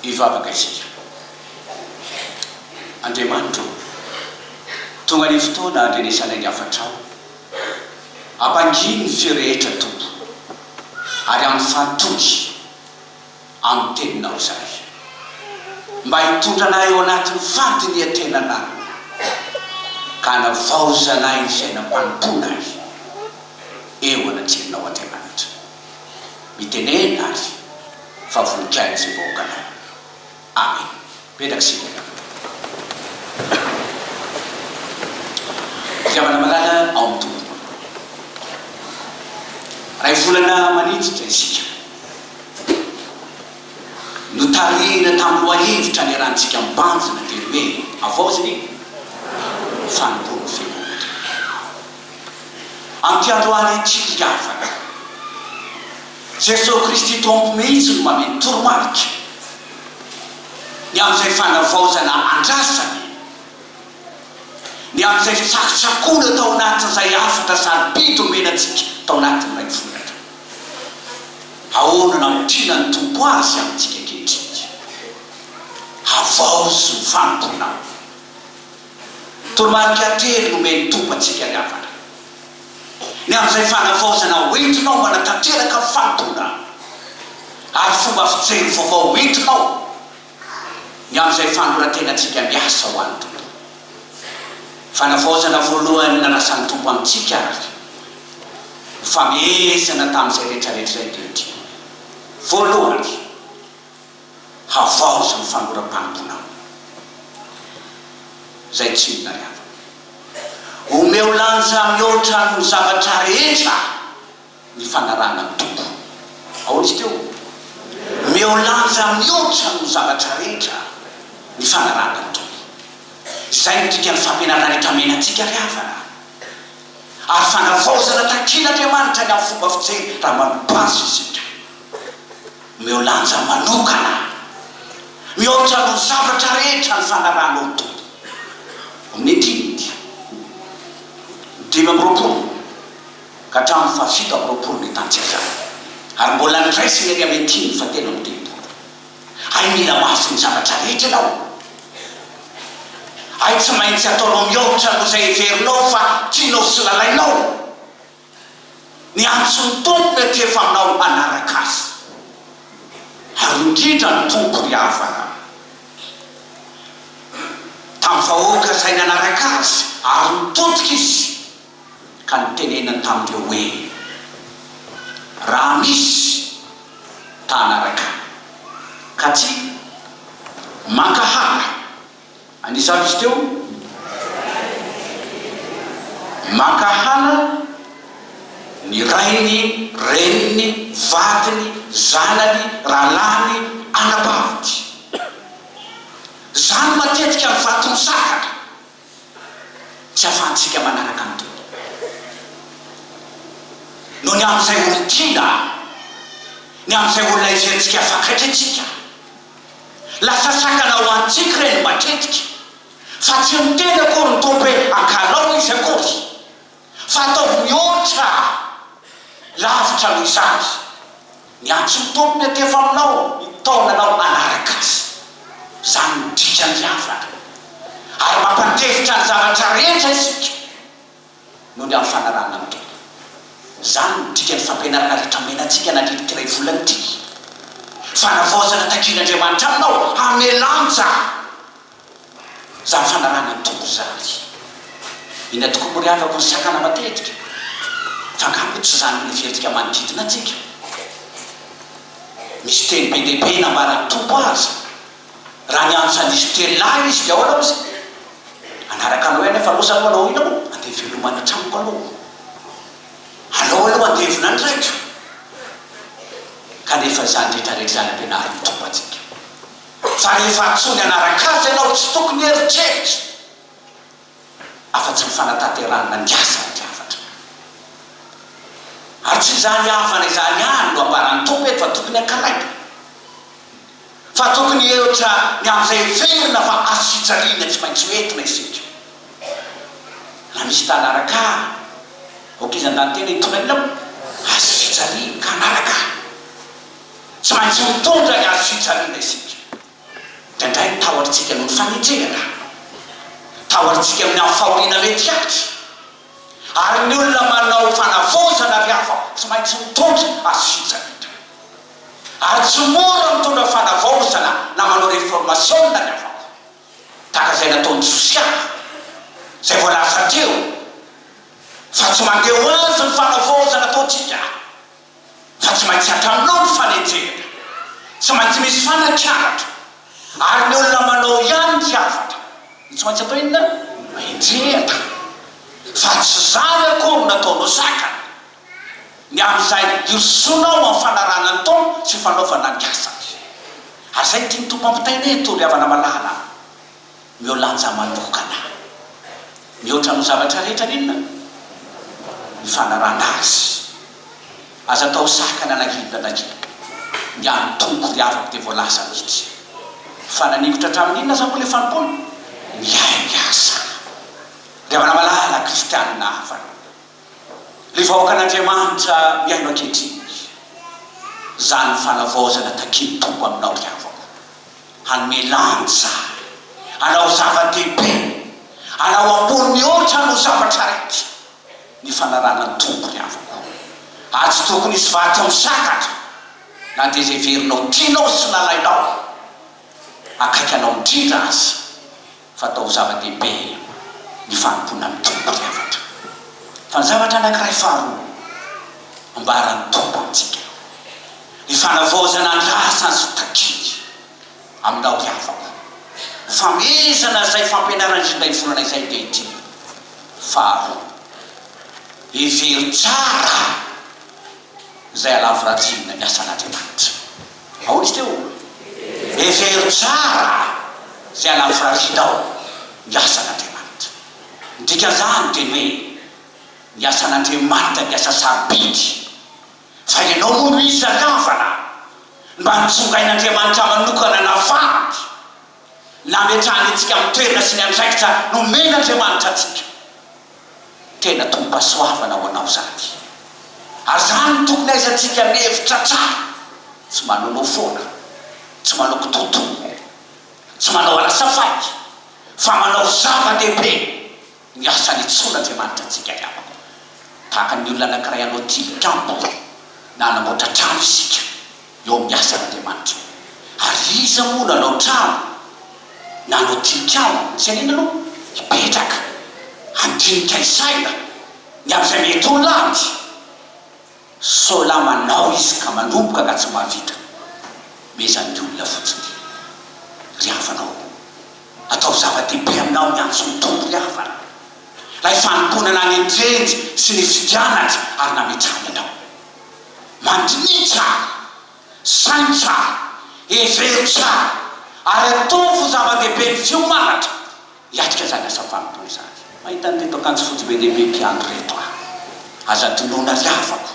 Hivavaka isika. Andriamanitra ô, tonga ny fotoana handrenesanay ny hafatrao. Ampangino ny feo rehetra, Tompo, ary ampifantody amin'ny Teninao izahay, mba hitondra anay ao anatin'ny fandinihan-tenanao, ka hanavaozanay ny fiainam-panompoanay eo anatrehanao, Andriamanitra. Mitenena ary fa voninkain'ny izay vahoaka anao. Amen. Mipetraka isika mialoha. Fitiavana malala ao amin'ny Tompo. Iray volana maniditra isika. Notarihina tamin'ny lohahevitra niarahantsika mibanjina teny hoe, Havaozina e! Fanompoan'ny Fiangonan'Andriamanitra. Amin'ity androany ity ry havana, Jesoa Kristy Tompo mihitsy no mameno toromarika ny amin'izay fanavaozana andrasany, ny amin'izay fitsakotsakoana tao anatin'izay hafatra sarobidy omena antsika tao anatin'ilay volana teo. Ahoana no ampiana ny Tompo azy amintsika ankehitriny? Havaozy ny fanompoanao. Toromarika telo nomen'ny Tompo antsika ry havana. Ny amin'izay fanavaozana hoentinao mba hanatanteraka ny fanompoanao, ary fomba fijery vaovao hoentinao ny amin'izay fanoran-tenantsika miasa ho an'ny Tompo. Fanavaozana voalohany nanasan'ny Tompo amintsika ary nifamehezana tamin'izay rehetrarehetra izay teo dia, voalohany, Havaozy ny fanoram-panomponao izay tsy mila ravina. Omeo lanja mihoatra ny zavatra rehetra ny fanarahana ny Tompo. Ahoana izy teo? Omeo lanja mihoatra ny zavatra rehetra ny fanarahana ny Tompo. Izay no dikan'ny fampianarana rehetra amenantsika ry havana. Ary fanavaozana takian'Andriamanitra ny amin'ny fomba fijery raha manobàza isika. Omeo lanja manokana ahy. Mihoatra noho ny zavatra rehetra ny fanarahanao ny Tompo. Amin'ny dimy ny dimy amby roapolo ka hatramin'ny fahafito amby roapolo ny tanjaka, ary mbola niraisin'i Elia Metin ny fahatelo amby telopolo. Hay mila mafy ny zavatra rehetra ianao. Hay tsy maintsy ataonao mihoatra noho izay heverinao fa tianao sy lalainao. Ny antso ny Tompo mety efa anao hanaraka azy ary indrindra ny Tompo ry havana tamin'ny vahoaka izay nanaraka azy ary nitodika izy ka nitenenany tamin'ireo hoe raha misy ta hanaraka ka tsy mankahala Anisan'izy teo, mankahala ny rainy, reniny, vadiny, zanany, rahalahiny, anabaviny. Izany matetika ny vato misakatra tsy ahafahantsika manaraka ny Tompo. Noho ny amin'izay olon-tiana, ny amin'izay olona heverentsika fa akaiky antsika. Lasa sakana ho antsika ireny matetika fa tsy miteny akory ny Tompo hoe angalao izy akory fa ataovy mihoatra lavitra noho izany. Miantso ny Tompo miantefa aminao mitaona anao hanaraka Azy. Izany no dikan'ny havana. Ary mampandefitra ny zavatra rehetra isika. noho ny amin'ny fanarahana ny tena. Izany no dikan'ny fampianarana rehetra omenantsika nandritra ity iray volana ity. Fanavaozana takian'Andriamanitra aminao hamelano izany. Izany fanarahana ny Tompo izany. Inona tokoa moa ry havako no sakana matetika? Fa angaha moa tsy izany no heverintsika manodidina antsika? Misy teny be dia be nambaran'ny Tompo aza. Raha ny andro sandiso telo lahy izy dia aona ozy anaraka anao ihany fa loza aloha ina moa andeha hivelomany an-tranoko aloha alao aloha andevona ny raiko kanefa izany rehetra rehetra izany ampianariny Tompo antsika fa rehefa antsoiny hanaraka azy ianao tsy tokony heritreritra afa-tsy ny fanatanterahana ny asa ny Rafatra. Ary tsy izany havana izany ihany no ambaran'ny Tompo eto fa tokony hankalaipina, fa tokony hiheotra ny amin'izay heverina fa azo fijaliana tsy maintsy ho entina isika. Raha misy tana araka ahy, aoka izy handany tena hitondra ny laoniny, azo fijaliana, ka hanaraka ahy. Tsy maintsy mitondra ny azo fijaliana isika. Indraindray ny tahotr'tsika noho ny fagnenjehana ka. Tahotr'tsika amin'ny amin'ny fahoriana mety hatra. Ary ny olona manao fanavaozana ry hafa tsy maintsy mitondra azy hitsany indray. Ary tsy mora mitondra fanavaozana na manao reformasiona ny hafako. Tahaka izay nataon'i Josia, izay voalaza teo, fa tsy mandeha ho azy ny fanavaozana ataontsika. fa tsy maintsy atranao ny fanenjehana, tsy maintsy misy fanakianatra, ary ny olona manao ihany ny hafatra no tsy maintsy atao inona? enjehina, fa tsy izany akory no ataonao zakany, ny amin'izay hirosoana ao amin'ny fanarahana ny Tompo sy fanaovana ny asany. Ary izay no tian'ny Tompo hampitaina eto, ry havana malala. Omeo lanja manokana mihoatra amin'ny zavatra rehetra an'inona? ny fanarahana Azy. Aza atao sakana na inona na inona. Ny an'ny Tompo ry havako dia voalaza mihitsy. Fa nanikotra hatramin'ny inona aza moa ilay fanompoana? Ny ainy aza. Ry havana malala kristianina havana, ry vahoakan'Andriamanitra mihaino ankehitriny, izany fanavaozana takian'ny Tompo aminao ry havako. Hanome lanja, hanao zava-dehibe, hanao ambony mihoatra noho zavatra rehetra ny fanarahana ny tompony avoko. Ary tsy tokony hisy vato misakatra na dia izay heverinao tianao sy nalainao akaiky anao indrindra aza. Fatao zava-dehibe ny fanompoana ny Tompo ry havana. Fa ny zavatra anankiray faharoa ambaran'ny Tompo amintsika, ny fanavaozana ny lasany sy takiany aminao ry havako. Hofamezana izay fampianarana indrindra hiforana izay dia ity faharoa, Hevero tsara izay halavorariana ny asan'Andriamanitra. Aoka teo. Hevero tsara izay hanafrarinao ny asan'Andriamanitra. Ny dikan'izany dia ny hoe ny asan'Andriamanitra dia asa sarobidy. Fa ianao moa no isan-kavana mba nitsongain'Andriamanitra manokana navahany. nametrahany antsika amin'ny toerana sy ny andraikitra nomen'Andriamanitra antsika. Tena tombom-pahasoavana ho anao izany. Ary izany no tokony hahaizantsika mihevitra hatrany, tsy manonofy foana, tsy manao kitoatoa, tsy manao alasafaika, fa manao zava-dehibe. Ny asany intsony Andriamanitra antsika ry havako. Tahaka ny olona anankiray hanao tilikambo na hanamboatra trano isika eo amin'ny asan' Andriamanitra. Ary iza moa no hanao trano na hanao tilikambo? Ny firenena aloha hipetraka handinika ny saina ny amin'izay mety ho lany. Sao la manao izy ka manomboka ka tsy mba vita. Meza ny olona fotsiny ry havanao. Ataovy zava-dehibe aminao ny antso ny Tompo ry havana. Ilay fanompoanana nendrenjy sy nifidiananjy ary nametrahany anao. Mandinihy tsara, saino tsara, hevero tsara ary ataovy ho zava-dehibe ny fiomanatra Hiatrika izany asa fanompoana izany. Mahita an'ireto akanjo fotsy be dia be mpiandry ireto aho. Aza adinoina ry havako,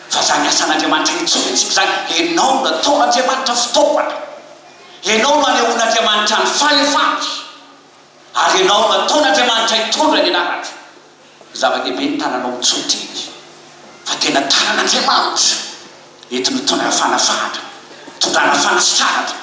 fa izany asan'Andriamanitra hetsihetsiko izany, ianao no nataon'Andriamanitra fitaovana. Ianao no hanehoan'Andriamanitra ny fahefany, ary ianao no ataon'Andriamanitra hitondra ny anarany. Zava-dehibe ny tananao mitsotra eny, fa tena tanan'Andriamanitra, entiny hitondra fanafahana, hitondrana fanasitranana.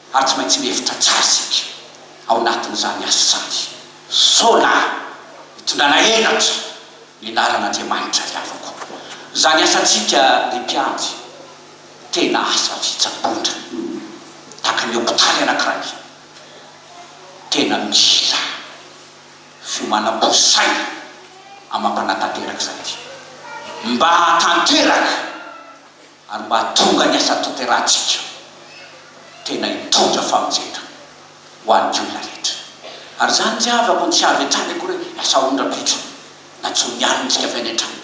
ary tsy maintsy mihevitra tsara isika ao anatin'izany asa izany. Sola, hitondrana henatra ny anaran'Andriamanitra ry havako. Izany asantsika ry mpiandry tena asa fitsaboana, tahaka ny hopitaly anankiray, tena mila fiomanam-po sy saina amam-panatanteraka izany mba hahatanteraka. ary mba hahatonga ny asa tanterahantsika tena hitondra famonjena ho an'ny olona rehetra. Ary izany tsy havako no tsy avy hatrany akory hoe lasa ondram-bitra na jono ihany no jiafaina hatrany,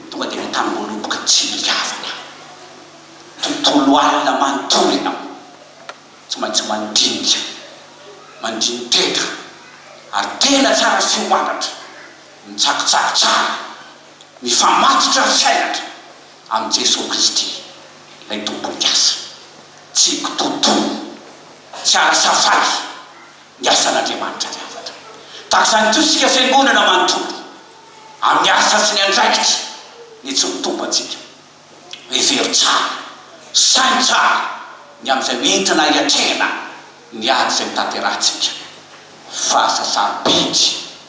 tonga dia mitangoloboka tsy mihavana, tontolo alina manontolo ianao, tsy maintsy mandinika, mandini-tena, ary tena tsara fiomanatra, mitsakitsaky tsara, mifamatotra ny fiainatra, Amin'i Jesoa Kristy, ilay Tompon'ny asa. Tsy kitoatoana, tsy an'asa faly, ny asan'Andriamanitra ny hafatra. Tahaka izany koa isika Fiangonana manontolo, amin'ny asa sy ny andraikitry ny tsy mitombo antsika. Hevero tsara, saino tsara ny amin'izay ho entina hiatrehana ny ady izay mitanterahantsika. Fahasasaram-pehitry.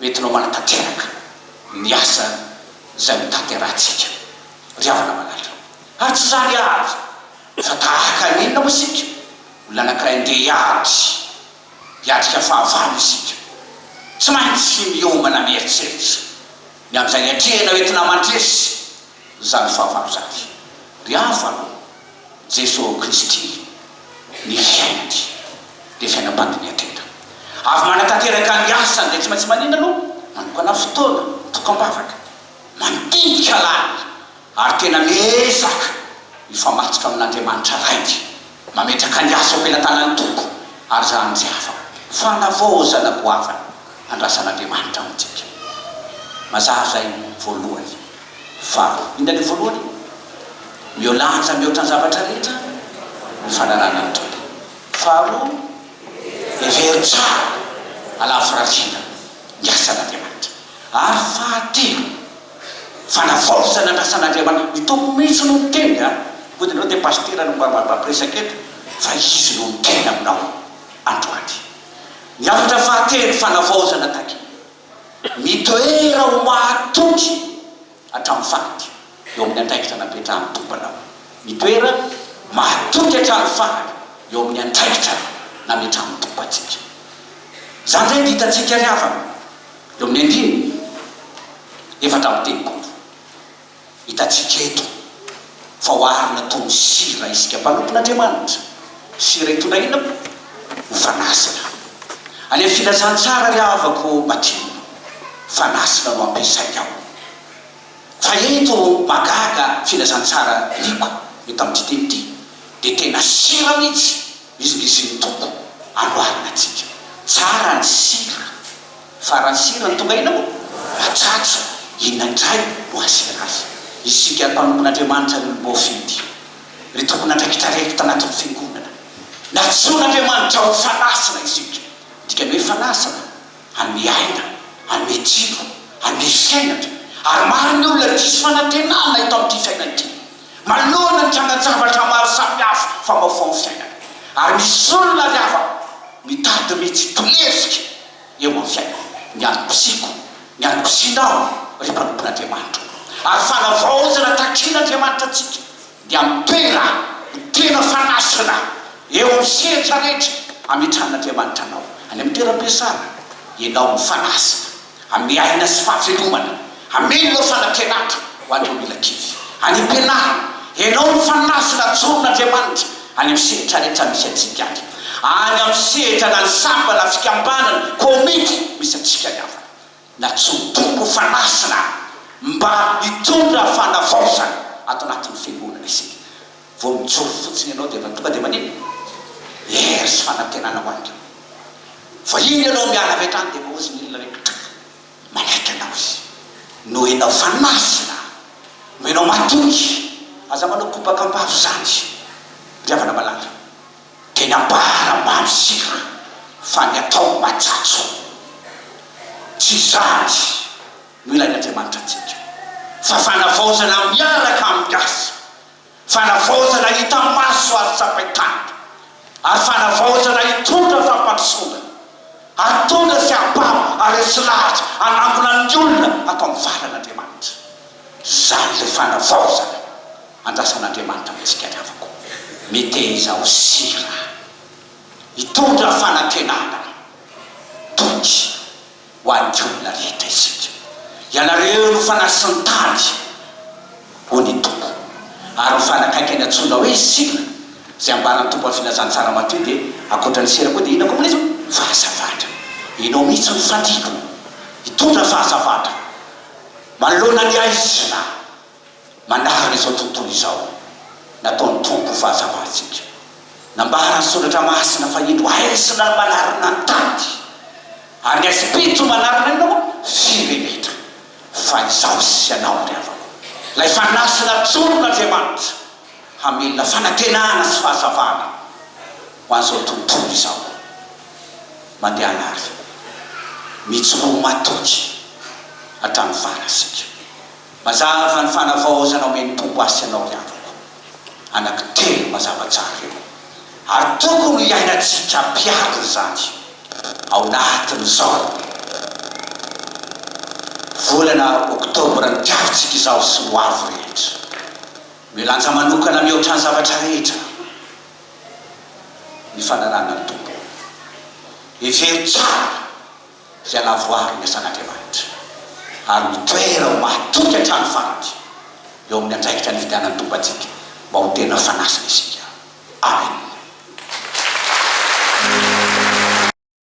Mety nao manatanteraka ny asa izay notanterahantsika ry havana malala. Ary tsy izany ihany fa tahaka ny inona moa isika? Olona anankiray ndeha hiady, hiatrika fahavalo isika. Tsy maintsy miomana mieritreritra ny amin'izay iatrehina hoentina mandresy. Zany fahavalo zany. Ry havano, Jeso Kristy ny fiainany dia fiainam-pandiniha tena. Avy manatanteraka ny asany dia tsy maintsy manina no manokana fotoana, toko am-bavaka, mandinika lalina ary tena miezaka hifamatsika amin'Andriamanitra Rainy. Mametraka ny asa eo am-pelatanan'ny Tompo, ary izaho no tsy afaka. Fanavao, ô zanako havana, handrasan'Andriamanitra amintsika. Mazava izay, voalohany. Fa, inona ilay voalohany? Miholanja mihoatra ny zavatra rehetra ny fananana ny Tompo. Faharoa, hevero tsara, alavo firaisana, ny asan'Andriamanitra. Ary fahatelo. Fanavaozana izay nandrasan'Andriamanitra, ny Tompo mihitsy no niteny a! Mody ianao dia pasitera no mba mampiresaka eto fa Izy no niteny aminao androany. Ny hafatra fahatelo, fanavaozana takiana, mitoera ho mahatoky hatramin'ny farany eo amin'ny andraikitra napetrahan'ny Tompo anao. Mitoera mahatoky hatramin'ny farany eo amin'ny andraikitra nametrahan'ny Tompo antsika. Izany indray dia hitantsika ry havana. Eo amin'ny andininy efatra amby telopolo, hitantsika eto fa oharina toy ny sira isika mpanompon'Andriamanitra. Sira hitondra inona moa? Ho fanasina. Any amin'ny Filazantsara, Ry havako, batima, fanasina no ampiasainy ao. Fa eto mahagaga, Filazantsara, Lioka, eto amin'ity teny ity, dia tena sira mihitsy. Izy dia izy ny Tompo amboarina antsika. Tsara ny sira fa raha ny sira no tonga ina moa matsatso inona indray no asiana azy. Isika ry mpanompon'Andriamanitra no voafidy, ry tompon'andraikitra rehetra eto anatin'ny fiangonana. Nantsoin'Andriamanitra ho fanasina isika, midika ny hoe fanasana hanome aina, hanome tsilo, hanome fiainana. Ary maro ny olona diso fanantenana eto amin'ity fiainana ity. Manoloana ny trangan-javatra maro samihafa famaofaon'ny fiainana, ary misy olona ry havana mitady ny tsy ho lefika eo amin'ny fiainana. Ny antom-pisiako, ny antom-pisianao, ry mpanompon'Andriamanitra ô, ary fanavaozana takin'Andriamanitra antsika, dia mitera ny tena fanasana eo amin'ny sehatra rehetra ametrahan'Andriamanitra anao. Any amin'ny toeram-piasana, ianao no fanasina. Hanome aina sy fahavelomana. Amen ireo fanampianatra ho an'ireo mila kivy. Any am-pianarana. Henao ny fanazona ajoron'Andriamanitra any amin'ny sehatra rehetra misy antsika ary. Any amin'ny sehatra na ny samba na fikambanana, komity misy antsika ny havana. Nantsoin'ny Tompo ho fanazona mba hitondra fanavaozana ato anatin'ny fiangonana isika. Vao mijoro fotsiny ianao dia efa tonga dia manino? Hery sy fanantenana ho anareo. Vao iny ianao miala avy hatrany dia efa ozy ny olona rehetra trak! Manaiky anao izy. Noho ianao fa masina. Noho ianao matoky. Aza manao kobaka am-bava izany. Ry havana malala. Teny ambara ambany isika fa ny atao matsatso. Tsy izany no ilain'Andriamanitra antsika fa fanavaozana miaraka amin'ny asa. Fanavaozana hita maso ary tsapain-tanana, ary fanavaozana hitondra fampandrosoana, hahatondra fiampano ary resy lahatra hanangona ny olona ato amin'ny valan'Andriamanitra. Izany ilay fanavaozana andrasan'Andriamanitra amintsika ry havako. Meteza ho sira, hitondra fanantenana, toky, ho an'ny olona rehetra isika. Ianareo no fanahy sy ny tady, hoy ny Tompo. Ary ny fanahy akaiky any antsoina hoe Sila, izay ambaran'ny Tompo amin'ny Filazantsara Matio dia ankoatra ny sira koa dia inona koa moa ilay izy ô? Fahazavatra. Ianao mihitsy no fadiako hitondra fahazavatra manoloana ny aizina. Mandalo izao tontolo izao, nataon'ny Tompo ho fahazavantsika. Nambara ny Soratra Masina fa indro haizina ny manarina ny tady, ary ny haizim-pito no manarina inona moa? Firenetra. Fa izaho sy ianao, ry havako, ilay fanasana atsorin'Andriamanitra hamelona fanantenana sy fahazavana ho an'izao tontolo izao. Mandehana ary mijoroa matoky hatramin'ny farany isika. Mazava fa ny fanavaozana omen'ny Tompo azy sy anao ry havako, anaky telo mazava tsara ireo, ary tokony ho iainantsika ampiharina izany ao anatin'izao volana oktobra nitiavintsika izao sy ny ho avy rehetra. Milanja manokana mihoatra ny zavatra rehetra ny fanarahana ny Tompo. Hevero tsara. Hialavoaro ny asan'Andriamanitra ary mitoera ho mahatoky hatramin'ny farany eo amin'ny andraikitra nividianany Tompo antsika mba ho tena fanasiny isika. Amena.